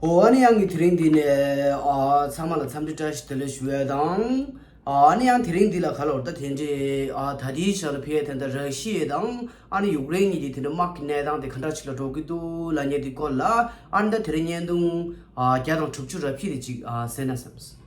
འོན་ཡང་ངས་དེ་རིང་འདི་ནས་ཚང་མ་ལ་འཚམས་འདྲི་བཀྲ་ཤིས་བདེ་ལེགས་ཞུ་བ་དང། འོན་ཡང་དེ་རིང་འདི་ལ་ག་ལ་འོར་ད་དེ་འདྲའི་ད་ལྟའི་ཆར་ལ་ཕེ་ཡེ་ཐན་དང་ར་ཤི་ཡེ་དང་ཨ་ནི་ཡུག་རེན་གཉིས་ཀྱི་དེ་འདྲའི་དམག་གི་གནས་སྟངས་དེ་ག་འདྲ་ཞིག་ལ་འགྲོ་གི་འདུག་ལ་ཉེ་དེའི་སྐོར་ལ་ཨ་ནི་ད་དེ་རིང་བརྙན་ཐུང་བརྒྱ་དང་དྲུག་ཅུ་རབ་ཤེས་རེ་ཅིག་ཟེར་ན་བསམས།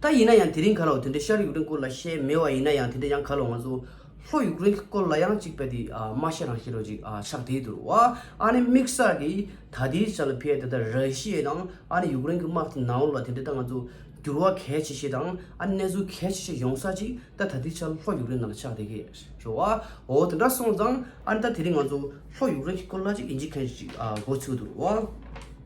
ད་ཡིན་ན་ཡང་དེ་རིང་ག་ལོག་དེ་འདྲའི་ཤར་ཡུག་རེན་སྐོར་ལ་བཤད་མེད་བ་ཡིན་ན་ཡང་དེ་འདྲའི་ཡང་ག་ལོག་ང་ཚོ་ལྷོ་ཡུག་རེན་སྐོར་ལ་ཡང་ཅིག་པ་དེ་མ་བཤད་རང་བཤད་རོགས་ཅིག་ཕྱག་དེའི་དུར་བ་ཨ་ནི་མིག་གསར་གི་ད་ལྟའི་ཆ་ལ་ཕའི་ད་ལྟ་ར་ཤི་ཡའི་དང་ཨ་ནི་ཡུག་རེན་གི་དམག་དེ་ནང་ལོག་ལ་དེ་འདྲའི་ད་ང་ཚོ་འགྱུར་བ་གལ་ཆེ་ཤེས་དང་ཨ་ནི་གནས་ཚུལ་གལ་ཆེ་ཤེས་ཡོང་ས་ཅིག་ད་ད་ལྟའི་ཆ་ལ་ལྷོ་ཡུག་རེན་ནང་ལ་ཕྱག་དེ་གི་ཞོ་བ་འོ་དེ་འདྲ་སོང་ཙང་ཨ་ནི་ད་དེ་རིང་ང་ཚོ་ལྷོ་ཡུག་རེན་གི་སྐོར་ལ་ཅིག་ཡིན་ཅིག་མཁན་ཅིག་གོ་ཚུལ་དུར་བ།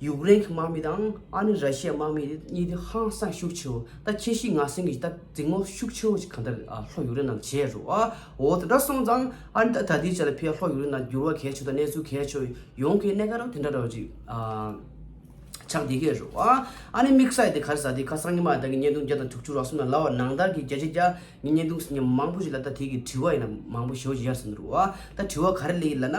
ཡུཀ་རེན་གྱི་དམག་མི་དང་ཨ་ནི་ར་ཤི་ཡའི་དམག་མི་གཉིས་དེ་ཧང་སངས་ཤུགས་ཆེ་བོ་ད་ཁྱེད་ཤི་ང་སེང་གི་ད་རྫིག་མོ་ཤུགས་ཆེ་བོ་ཞིག་གང་ལྟར་ཨ་ལྷོ་ཡུཀ་རེན་ནང་བྱས་རུ་ཨ་འོ་དེ་འདྲ་སོང་ཙང་ཨ་ནི་ད་ད་ལྟའི་ཆ་ལ་ཕེ་ཨ་ལྷོ་ཡུཀ་རེན་ནང་འགྱུར་བ་གལ་ཆེ་ད་གནས་ཚུལ་གལ་ཆེ་བོ་ཡོང་གི་གནས་ག་རང་དེ་འདྲ་རོ་ཅིག་ཨ་ཆགས་འདི་གས་རུ་ཨ་ཨ་ནི་དམིགས་བསལ་དེ་གར་ཟ་དེ་ཁ་སང་ཉི་མ་ད་གི་བརྙན་ཐུང་བརྒྱ་དང་དྲུག་ཅུ་རོགས་སོང་ན་ལ་བ་ནང་ལྟར་གི་བརྒྱ་ཆ་བརྒྱ་ཉིས་བརྙན་ཐུང་ཟིན་གྱི་མང་པོ་ཞིག་ལ་ད་དེ་གི་དྲི་བ་ཡིན་ན་མང་པོ་ཞོ་ཞིག་ཡར་ཟིན་རུ་ཨ་ད་དྲི་བ་ག་རེ་ལས་ཡིན་ལ་ན།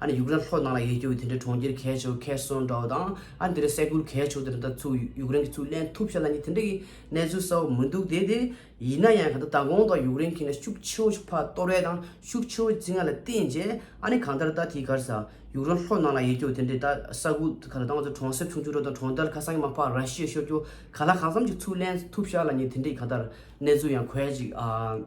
ཨ་ནི་ཡུག་རན་ལྷོ་ནང་ལ་ཡལ་རྒྱུ་འོས་དེ་འདྲའི་གྲོང་ཁྱེར་གས་ཆོག་གས་སོང་འདྲ་བོ་དང་ཨ་འདི་རུ་སེ་གུར་གས་ཆོག་དེ་འདྲ་ད་ཚུགས་ཡུག་རན་གྱི་ཚུགས་ལན་ཐུབ་ཤ་ལ་ནི་དེ་འདྲ་གི་གནས་ཚུལ་གསལ་བོ་མི་འདུག་དེ་དེ་ཡིན་ན་ཡང་ག་ད་ད་གོང་དང་ཡུག་རན་གྱི་ནས་ཤུགས་ཆེ་བོ་ཞིག་ཕ་ཏོ་རའི་དང་ཤུགས་ཆེ་བོ་ཅི་ང་ལ་བསྟན་རྗེས་ཨ་ནི་གང་ལྟར་ད་དེའི་གར་ས་ཡུག་རན་ལྷོ་ནང་ལ་ཡལ་རྒྱུ་འོས་དེ་འདྲའི་ད་ས་གུར་ག་ད་ད་ང་ཚོ་གྲོང་གསེབ་ཆུང་ཆུང་འདྲ་དང་གྲོང་རྡལ་ཁ་སང་གི་མ་ཕ་ར་ཤི་ཡ་ཤོད་རྒྱུ་ག་ལ་གང་བསམ་ཅིག་ཚུགས་ལན་ཐུབ་ཤ་ལ་ནི་དེ་འདྲའི་ག་ད་གནས་ཚུལ་ཡང་གོས་ཅིག་ཨ།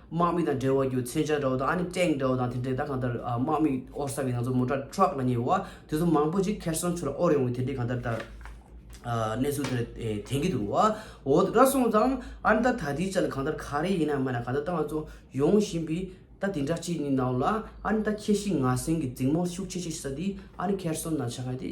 དམག་མི་དང་འབྲེལ་བ་རྒྱུ་མཚན་ཅར་འདྲ་བོ་དང་ཨ་ནི་ཀྲེང་འདྲ་བོ་དང་དེ་འདྲས་ད་གང་ལྟར་དམག་མི་དབོར་ས་གི་ང་ཚོ་མོ་ཏྲ Truck ལ་ཉེ་བ་དེ་ཚོ་མང་པོ་ཅིག་ཁེར་སོང་ཆུ་ལ་དབོར་ཡོང་གི་དེ་འདྲས་གང་ལྟར་ད་གནས་ཚུལ་དེ་འདྲ་དྲན་གི་འདུག་འོ་ད་སོང་ཙང་ཨ་ནི་ད་ད་ལྟའི་ཆ་ལ་གང་ལྟར་ག་རེ་ཡིན་ན་མེད་ན་གང་ལྟར་ད་ང་ཚོ་ཡོང་བཞིན་པའི་ད་དེ་འདྲ་གཅིག་ནི་ནང་ལ་ཨ་ནི་ད་ཁྱེད་ཤི་ང་གསོན་གི་རྫིང་མོ་ཤུགས་ཆེ་ཆེ་ས་དེ་ཨ་ནི་ཁེར་སོང་ན་ཆགས་ཡོད་དེ།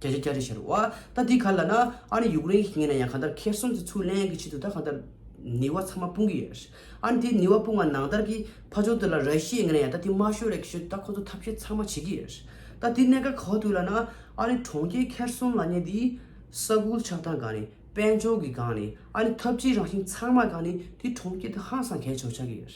རྒྱ་ཆེ་སྐྱ་རེ་བྱེད་རོགས། ཨ། ད་འདི་ག་ལ་ན་ཨ་ནི་ཡུཀ་རེན་གྱི་ངེད་ན་ཡང་གང་ལྟར་ཁེར་གསུམ་གྱི་ཚུར་ལན་གྱི་ཆེད་དུ་ད་གང་ལྟར་ནི་བ་ཚང་མ་སྤུངས་ཀྱི་ཡོད། ཨ་ནི་དེ་ནི་བ་སྤུངས་བ་ནང་ལྟར་གྱི་ཕ་ཆོག་དེ་ལ་ར་ཤི་ཡའི་ངེད་ན་ཡང་ད་དེ་མ་ཤོད་རེ་གི་ཆེད་དུ་ད་ཁོ་ཚོ་ཐབས་ཤེས་ཚང་མ་བྱེད་ཀྱི་ཡོད། ད་དེ་གནད་འགག་ག་བ་ཐུག་ལ་ན་ཨ་ནི་གྲོང་ཁྱེར་ཁེར་གསུམ་ལ་ནི་དེ་ས་ཁུལ་ཆགས་སྟངས་གང་ནི་དཔལ་འབྱོར་གྱི་གང་ནི་ཨ་ནི་ཐབས་ཇིའི་རང་བཞིན་ཚང་མ་གང་ནི་དེ་གྲོང་ཁྱེར་དུ་ཧང་སང་གས་ཆོག་ཆགས་ཀྱི་ཡོད།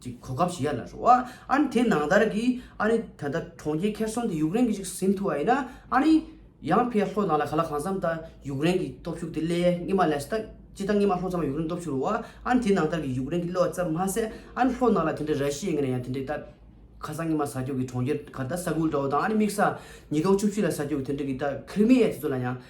ཅིག་གོ་སྐབས་ཞིག་ཡར་ལ་ཧྲོ། ཨ་ནི་དེ་ནང་ལྟར་གི། ཨ་ནི་ད་ལྟ་གྲོང་ཁྱེར་ཁེར་སོང་དེ་ཡུཀ་རེན་གི་ཞིག་ཟིན་ཐུབ་བ་ཡིན་ན། ཨ་ནི། ཡང་ཕའི་ལྷོ་ནང་ལ་ག་ལ་གང་འཚམ་ད་ཡུཀ་རེན་གི་སྟོབས་ཤུགས་དེ་སླེ་ཡའི་སྔེ་མ་ལས་ད་ཅི་ད་སྔེ་མ་ལྷོ་ཙམ་ལ་ཡུཀ་རེན་སྟོབས་ཤུགས་རོ། ཨ་ནི་དེ་ནང་ལྟར་གི་ཡུཀ་རེན་གི་སླེ་བ་ཙམ་མ་ཟད་ཨ་ནི་ལྷོ་ནང་ལ་དེ་འདྲའི་ར་ཤི་ཡི་ངེ་ན་ཡང་དེ་འདྲའི་ད། ཁ་སང་སྔེ་མ་ས་ཁྱོགས་གི་གྲོང་ཁྱེར་ག་ད་ས་ཁུལ་འདྲ་བོ་དང་ཨ་ནི་དམིགས་ས། ཉིས་སྟོང་བཅུ་བཞི་ལ་ས་ཁྱོགས་གི་དེ་འདྲའི་གི་ད་ཁིར་མི་ཡའི་དེ་ཚོ་ལ་ཡང་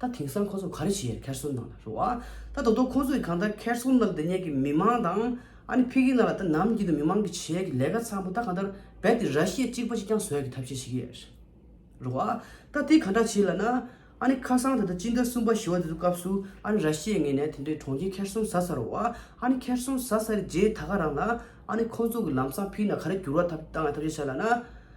ད་དེང་སང་ཁོ་ཚོ་ག་རེ་བྱེད་ཡས་ཁེར་སོན་ནང་ལ་རུ་ཨ། ད་ད་དུང་ཁོ་ཚོ་ཡི་གང་ལྟར་ཁེར་སོན་ནང་ལ་དེ་ཉེད་ཀྱི་མི་མང་དང་ཨ་ནི་ཕི་གི་ནང་ལ་ད་ནམ་གྱི་དུ་མི་མང་གི་བྱེད་ཡས་ཀྱི་ལས་ཀ་ཚང་མ་ད་གང་ལྟར་རྦད་དེ་ར་ཤི་ཡས་གཅིག་པ་ཅིག་ཀྱང་བཟོ་ཡས་ཀྱི་ཐབས་ཤེས་བྱེད་ཀྱི་ཡས་རུ་ཨ། ད་དེ་གང་འདྲ་བྱེད་ལ་ན་ཨ་ནི་ཁ་སང་ད་ལྟ་སྤྱི་ཟླ་གསུམ་པ་བཞི་བ་དེ་ཚོ་སྐབས་སུ་ཨ་ནི་ར་ཤི་ཡས་ངེད་ནས་དེ་འདྲའི་གྲོང་ཁྱེར་ཁེར་སོན་ཟ་ས་རུ་ཨ། ཨ་ནི་ཁེར་སོན་ཟ་ས་རི་རྗེས་ད་ག་རང་ལ་ཨ་ནི་ཁོ་ཚོ་གི་ལམ་སང་ཕི་ནང་ག་རེ་འགྱུར་བ་ཐབས་བཏང་ཡས་ཐབས་ཤེས་བྱ་ལ་ན་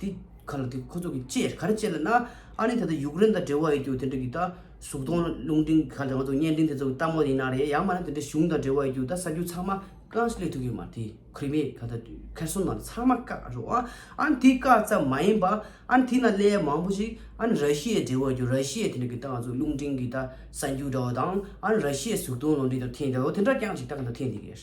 དེ་ག་ལ་དེ་ཁོ་ཚོ་གི་ཅེས་ག་རེ་བྱས་ལ་ན་ཨ་ནི་ད་ལྟ་ཡུཀ་རེན་དང་འབྲེལ་བ་ཡོད་རྒྱུ་དེ་འདྲ་གི་ད་གཟུགས་མཐོང་རླུང་འཕྲིན་ག་ལ་དེ་ང་ཚོ་བརྙན་འཕྲིན་དེ་ཚོ་གི་ལྟ་མོ་ཡིན་ན་རེད་ཡང་མ་ན་དེ་འདྲ་གཞུང་དང་འབྲེལ་བ་ཡོད་རྒྱུ་ད་ས་རྒྱུ་ཚང་མ་ཀང་སི་ལེ་ཐུ་གི་མ་དེ་ཁྲི་མེ་ག་ད་ཁེར་སོན་ན་ཚང་མ་བཀག་རོགས་ཨ་ཨ་ནི་དེ་བཀག་ཙམ་མ་ཡིན་པ་ཨ་ནི་དེ་ན་ལས་མང་པོ་ཞིག་ཨ་ནི་ར་ཤི་ཡའི་འབྲེལ་བ་ཡོད་རྒྱུ་ར་ཤི་ཡའི་དེ་འདྲ་གི་ད་ང་ཚོ་རླུང་འཕྲིན་གི་ད་ས་རྒྱུ་འདྲ་བ་དང་ཨ་ནི་ར་ཤི་ཡའི་གཟུགས་མཐོང་རླུང་འཕྲིན་ད་འཐེན་འདྲ་བ་དེ་འདྲ་ཀྱང་ཞིག་ད་ག་ད་འཐེན་དེ་གེར།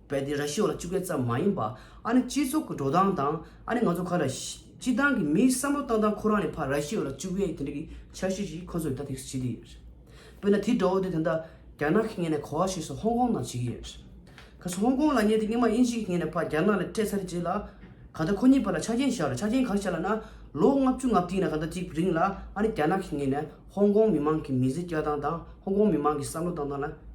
བལ་དེ་ར་ཤི་བ་ཅུ་གས་ཙམ་མ་ཡིན་པ་ཨ་ནི་སྤྱི་ཚོགས་ཀྱི་འགྲོ་སྟངས་དང་ཨ་ནི་ང་ཚོ་ག་ར་སྤྱི་སྟངས་ཀྱི་མིའི་བསམ་བློ་སྟངས་དང་ཁོ་རང་ནི་ཕ་ར་ཤི་བ་ལ་ཅུ་གས་དེ་འདྲ་གི་འཆར་གཞི་ཞིག་ཁོ་ཚོ་ཡི་ད་ཐེགས་སུ་བྱེད་ཀྱི་ཡོད་རེད་དཔེར་ན་དེ་འདྲ་བོ་དེ་ད་ལྟ་རྒྱ་ནག་གི་ངེད་ནས་གོ་བ་ཤེས་སུ་ཧོང་ཀོང་ནང་བྱེད་ཀྱི་ཡོད་རེད་གལ་སྲིད་ཧོང་ཀོང་ལ་ངེད་དེ་སྙིང་མ་དབྱིན་ཇི་གི་ངེད་ནས་ཕ་རྒྱ་ནག་ལ་སྤྲད་ཚར་རེ་རྗེས་ལ་ག་ད་ཁོ་གཉིས་བར་ལ་ཆ་རྐྱེན་བཞག་རེ་ཆ་རྐྱེན་གང་བཞག་ལ་ན་ལོ་ལྔ་བཅུ་ལྔ་བརྒྱིས་ན་ག་ད་ཅིག་རིང་ལ་ཨ་ནི་རྒྱ་ནག་གི་ངེད་ནས་ཧོང་ཀོང་མི་མང་གི་མི་ཚེ་སྐྱལ་སྟངས་དང་ཧོང་ཀོང་མི་མང་གི་བསམ་བློ་སྟངས་དང་ལ།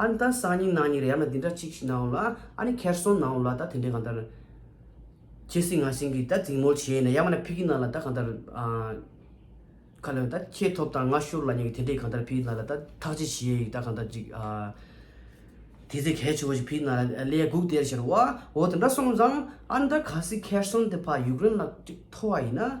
ཨ་ནི་ད་སང་ཉིན་ནང་ཉིན་རེ་ཡང་ན་འདི་འདྲ་གཅིག་ཤི་ནའོ་ལ་ཨ་ནི་ཁེར་སོང་ནའོ་ལ་ད་དེ་འདྲས་གང་ལྟར་ཁྱེད་སྲིད་ང་སྲིད་ཀྱིས་ད་རྫིང་མོ་བྱས་ནས་ཡང་མ་ན་ཕི་གི་ནང་ལ་ད་གང་ལྟར་ཁ་ལོ་ད་ཁྱེད་ཐོབ་དང་ང་ཤོར་ལ་ཉོན་གི་དེ་འདྲས་གང་ལྟར་ཕི་གི་ནང་ལ་ད་ཐག་གཅིག་བྱས་ཡིག་ད་གང་ལྟར་ཅིག་དེ་ཚེ་གལ་ཆེ་བོ་ཞིག་ཕི་གི་ནང་ལ་ལས་སྒུག་དེར་ཤར་བ་འོ་དེ་འདྲ་སོང་ཙང་ཨ་ནི་ད་ག་སྲིད་ཁེར་སོང་དེ་ཕ་ཡུག་རེན་ལ་གཅིག་ཐོ་བ་ཡིན་ན།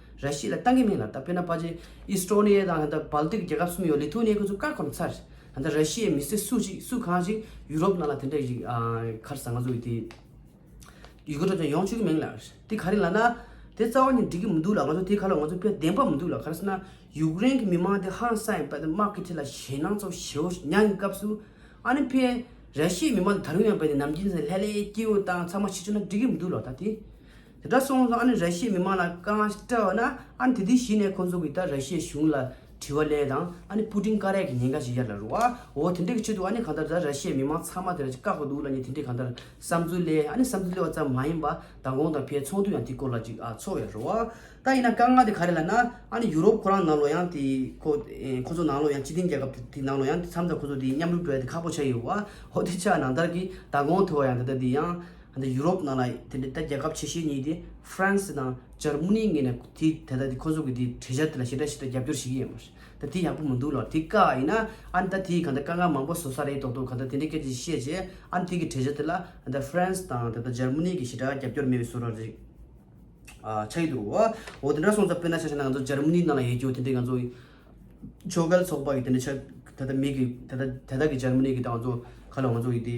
ར་ཤི་ལ་གཏང་གི་མིན་ལ་ད་བོད་ན་པ་ཇི་ཨི་སི་ཏྲོ་ནི་ཡེ་དང་ད་བལ་ཏིག་རྒྱལ་ཁབ་གསུམ་ཡོད་ལི་ཐུ་ནི་ཡེ་ཁོ་ཚོ་བཀག་གོ་ན་ཚར་ད་ད་ར་ཤི་ཡའི་མི་སེར་སུ་ཅིག་སུ་གང་ཞིག་ཡུ་རོབ་ནང་ལ་དེ་འདྲ་ཡི་ཁར་ཟ་ང་ཚོ་ཡི་དེ་ཡུལ་གོ་ཏྲོ་ཅང་ཡོང་ཆུ་གི་མིན་ལ་དེ་ག་རེ་ལ་ན་དེ་རྩ་བ་ནས་འགྲིག་གི་མི་འདུག་ལ་ང་ཚོ་དེ་ག་ལ་ང་ཚོ་ཕས་བདེན་པ་མི་འདུག་ལ་ག་རེ་ཟེར་ན་ཡུག་རེན་གི་མི་མང་དེ་ཧང་སངས་ཡིན་པ་དེ་དམག་གི་ཁྲི་ལ་ཞེད་སྣང་ཚོ་ཞེ་བོ་མྱངས་གི་སྐབས་སུ་ཨ་ནི་ཕས་ར་ཤི་ཡའི་མི་མང་དེ་ད་རུང་ཡང་བལ་ནས་ནམ་རྒྱུན་ཟེར་ལྷད་ལྷད་སྐྱིད་འོ་དང་ཚང་མ་ཤི་ཆུ་ན་འགྲིག་གི་མི་འདུག་ལ་ད་དེ་དེ་འདྲ་སོང་ཙང་ཨ་ནི་ར་ཤི་ཡའི་མི་མང་ལ་དཀའ་ངལ་སྤྲད་བ་ན་ཨ་ནི་དེ་དུས་གཞི་ནས་ཁོང་ཚོ་གིས་ད་ར་ཤི་ཡའི་གཞུང་ལ་དྲི་བ་གླེང་དང་ཨ་ནི་པུ་ཏིན་ཀ་རས་ཀྱི་ཉེན་ཁ་ཞིག་ཡར་ལ་རུ་བ་འོ་དེ་འདྲས་ཀྱི་ཆེད་དུ་ཨ་ནི་གང་ལྟར་ད་ར་ཤི་ཡའི་མི་མང་ཚང་མ་དེ་ར་ཅིག་བཀག་པ་འདུག་ལ་ཉེ་དེ་འདྲས་གང་ལྟར་བསམ་ཚུལ་གླེང་ཨ་ནི་བསམ་ཚུལ་གླེང་བ་ཙམ་མ་ཡིན་པ་མདང་དགོང་དང་ཕའི་ཚོགས་འདུ་ཡང་དེའི་སྐོར་ལ་ཅིག་ཨ་ཚོགས་ཡར་རུ་བ་ད་ཡིན་ན་དཀའ་ངལ་དེ་ག་རེ་ལ་ན་ཨ་ནི་ཡུ་རོབ་ཁོ་རང་ནང་ལོགས་ཡང་དེ་ཁོ་ཁོ་ཚོ་ནང་ལོགས་ཡང་སྤྱི་མཐུན་རྒྱལ་ཁབ་དེ་དེ་ནང་ལོགས་ཡང་དེ་མཚམས་ད་ཁོ་ཚོ་དེ་མཉམ་རུབ་བྲོ་ཡ་དེ་ཁག་པོ་ཆགས་ཡོད་བ་འོ་དེ་ཆགས་ནང་ལྟར་གྱི་མདང་དགོང་ཐོས་བ་ཡང་ད་ད་དེ་ཡང་འདི་ཡུ་རོབ་ནང་ལ་དེ་འདྲའི་ད་རྒྱལ་ཁབ་ཆེ་ཤོས་གཉིས་དེ France དང་ཇར་མུ་ནི་ངེས་ན་དེ་ད་ད་དེ་ཁོ་ཚོ་གི་དེ་གྲལ་ཆག་དེ་ལ་ཞེ་དྲག་ཞེ་དྲག་རྒྱབ་སྐྱོར་བྱེད་ཀྱི་ཡོད་མ་རེད་ད་དེ་ཡག་པོ་མི་འདུག་ལོ་དེ་དཀའ་ཡིན་ན་ཨ་ནི་ད་དེ་ཡི་གང་ད་དཀའ་ངལ་མང་པོ་བཟོ་ས་རེད་དོག་དོག་གང་ད་དེ་འདྲའི་སྐད་ཅིག་བཤད་རྗེས་ཨ་ནི་དེ་གི་གྲལ་ཆག་དེ་ལ་ད France དང་ད་ད་ཇར་མུ་ནི་གི་ཞེ་དྲག་རྒྱབ་སྐྱོར་མེད་པའི་བཟོ་ར་རེད། ཆ་ཡི་འདུག་འོ་དེ་འདྲ་སོང་ཙང་དཔེར་ན་ཆ་ཤས་ན་ང་ཚོ་ཇར་མུ་ནི་ནང་ལ་ཡོད་རྒྱུ་དེ་འདྲའི་ང་ཚོ་ཕྱོགས་འགལ་ཚོགས་པ་གི་དེ་འདྲའི་ཆ་ད་ད་མིག་གི་ད་ད་ད་ད་གི་ཇར་མུ་ནི་གི་ད་ང་ཚོ་ཁ་ལོ་ང་ཚོ་གི་དེ།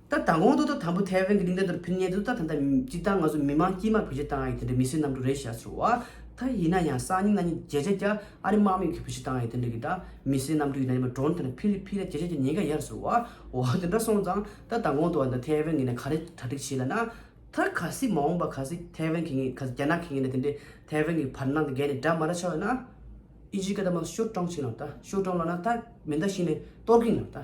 ད་ལྟ་གོང་དུ་ད་དང་པོ་ཐའེ་ཝན་གྱི་གླིང་སྒྲ་དེར་ཕུལ་ཉེ་དུ་ད་ད་ད་སྤྱི་དང་ང་ཚོ་མི་མང་དཀྱིས་མ་བོད་སྤྱི་དང་ཡི་དེ་འདྲའི་མི་སེར་རྣམས་དྲུག་རེ་བཞག་ཟེར་བ་ད་ཡིན་ན་ཡང་སང་ཉིན་གནའ་ཉིན་བརྒྱད་ཆ་གྱ་ཨ་རི་དམག་མི་གིས་བོད་སྤྱི་དང་ཡི་དེ་འདྲ་གི་ད་མི་སེར་རྣམས་དྲུག་ཡིན་ན་ཉི་མ་གྲོངས་དེ་ན་ཕིར་ཕིར་ཡ་བརྒྱད་ཆ་གྱ་ཉིས་ག་ཡར་ཟེར་བ་འོ་དེ་འདྲ་སོང་ཙང་ད་ད་གོང་དུ་ད་ཐའེ་ཝན་གྱི་ནས་ག་རེ་གྲ་སྒྲིག་བྱེད་ལ་ན་ད་ག་སྲིད་མ་འོངས་པ་ག་སྲིད་ཐའེ་ཝན་གྱི་ངེས་ག་སྲིད་རྒྱ་ནག་གི་ངེས་ནས་དེ་འདྲའི་ཐའེ་ཝན་གྱི་བར་སྣང་དེ་བརྒལ་ནས་སྒྲ་མ་ར་ཆགས་ཡོད་ན་ཨི་ཇི་ཀ་ད་མ་ཤོར་སྤྲང་ཕྱིན་ལ་ད་ཤོར་སྤྲང་ལ་ན་ད་མེ་མདའ་ཤིག་ནས་གཏོར་གིན་ལ་ད།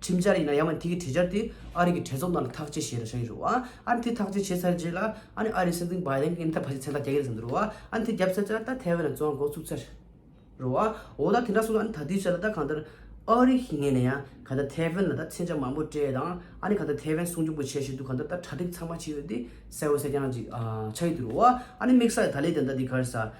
ཁྲིམས་འཆར་ཡིན་ན་ཡང་མ་དེ་གི་དྲི་འཆར་དེ་ཨ་རི་གི་གྲས་ཚོགས་ནང་ལ་ཐག་གཅད་བྱེད་ར་བྱ་ཡི་རུ་ཨ། ཨ་རི་དེ་ཐག་གཅད་བྱེད་ཚར་རྗེས་ལ་ཨ་ནི་ཨ་རི་སྲིད་འཛིན་བྷའི་རྡེན་གི་ཨིན་ཐར་བྷ་ཞིག་ཚན་ཁག་རྒྱག་གི་རེད་བསམ་གི་རུ་ཨ། ཨ་ནི་དེ་རྒྱབ་ཚར་རྗེས་ལ་ད་ཐའེ་ཝན་ལ་བཙོང་བ་འགོ་བཙུགས་ཚར་རུ་ཨ། འོ་ད་དེ་འདྲ་སོང་ན་ཨ་ནི་ད་དུས་ཆར་ལ་ད་གང་ལྟར་ཨ་རི་ཞིག་ངེས་ནས་ཡང་ག་ད་ཐའེ་ཝན་ལ་ད་མཚན་ཆ་མང་པོ་སྤྲད་དང་ཨ་ནི་ག་ད་ཐའེ་ཝན་སྲུང་སྐྱོབ་གི་བྱེད་བཞིན་འདུག་གང་ལྟར་ད་གྲ་སྒྲིག་ཚང་མ་བྱས་ཡོད་དེ་གསལ་བོ་གསལ་རྐྱང་ཅིག་ཆགས་ཡི་དི་རུ་ཨ། ཨ་ནི་དམིགས་ས་ཡི་ད་ལས་དེ་འདྲ་དེ་གར་ས།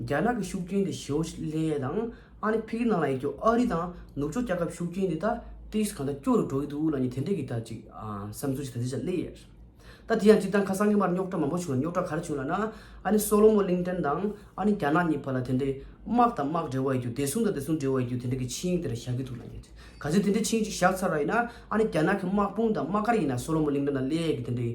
རྒྱ་ནག་གི་ཤུགས་རྐྱེན་དེ་ཞའོ་ལེ་ཡཱ་དང་ཨ་ནི་ཕི་གི་ནང་ལ་ཡོད་རྒྱུ་ཨ་རི་དང་ནུབ་ཕྱོགས་རྒྱལ་ཁབ་ཤུགས་རྐྱེན་དེ་ད་ཏིས་གང་འདྲ་སྐྱོ་རུ་འགྲོ་གི་འདུག་ལ་ནི་དེ་འདྲས་ཀྱི་ད་ཅིག་བསམ་ཚུལ་ཞིག་ད་ལྟའི་ཆར་སླེ་ཡས་རེད་ད་དེ་ཡང་སྤྱིར་བཏང་ཁ་སང་གི་མར་རྙོག་དྲ་མང་པོ་བྱུང་ལ་རྙོག་དྲ་ག་རེ་བྱུང་ལ་ན་ཨ་ནི་སོ་ལོ་མོ་གླིང་ཕྲན་དང་ཨ་ནི་རྒྱ་ནག་གཉིས་བར་ལ་དེ་འདྲས་དམག་དང་དམག་འབྲེལ་བ་ཡོད་རྒྱུ་བདེ་སྲུང་དང་བདེ་སྲུང་འབྲེལ་བ་ཡོད་རྒྱུ་དེ་འདྲས་ཀྱི་ཆིངས་ཡིག་དེ་ར་བཞག་གི་འདུག་ལ་ནི་ག་ཚོད་དེ་འདྲས་ཆིངས་ཡིག་ཅིག་བཞག་ཚར་བ་ཡིན་ན་ཨ་ནི་རྒྱ་ནག་གི་དམག་དཔུང་དང་དམག་སྒར་ཡིན་ན་སོ་ལོ་མོ་གླིང་ཕྲན་དང་སླེ་ཡས་ཀྱི་དེ་འདྲས་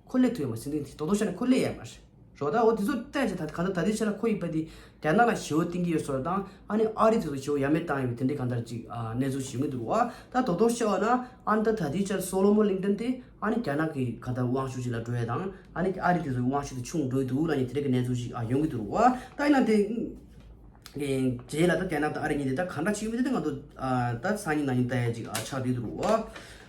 ཁོ་ལས་ཐུ་ཡོད་མ་སྲིད་འདི་དོ་དོ་ཤ་ནི་ཁོ་ལས་ཡ་མ་རེད་རོགས་ད་འོ་དེ་ཚོ་བལྟས་ཅི་ད་ག་ད་ད་དེ་ཆ་ལ་ཁོ་ཡིས་པ་དེ་རྒྱ་ནག་ལ་ཞི་བོ་གཏིང་གི་ཡོད་སོགས་དང་ཨ་ནི་ཨ་རི་དེ་ཚོ་ཞི་བོ་ཡ་མེད་བཏང་ཡོད་པའི་དེ་འདྲའི་གང་ལྟར་ཅིག་གནས་ཚུལ་ཞིག་ཡོང་གི་འདུག་བ་ད་དོ་དོ་ཤ་བ་ན་ཨ་ནི་ད་ད་དེའི་ཆ་ལ་སོ་ལོ་མོ་གླིང་ཕྲན་དེ་ཨ་ནི་རྒྱ་ནག་གི་ག་ད་དབང་ཤུགས་ཅིག་ལ་འགྲོ་ཡ་དང་ཨ་ནི་ཨ་རི་དེ་ཚོ་གི་དབང་ཤུགས་དེ་ཆུང་འགྲོ་ཡི་འདུག་ལ་ནི་དེ་འདྲའི་གི་གནས་ཚུལ་ཞིག་ཡོང་གི་འདུག་རོགས་བ་ད་ཡིན་ན་དེ་རྗེས་ལ་ད་རྒྱ་ནག་དང་ཨ་རི་གཉིས་དེ་ད་གང་འདྲ་ཅིག་ཡོད་མེད་དེ་ང་ཚོ་ད་སང་ཉིན་ནང་ཉིན་ལྟ་ཡ་ཅིག་ཆགས་འདུག་འདུག་རོགས་བ།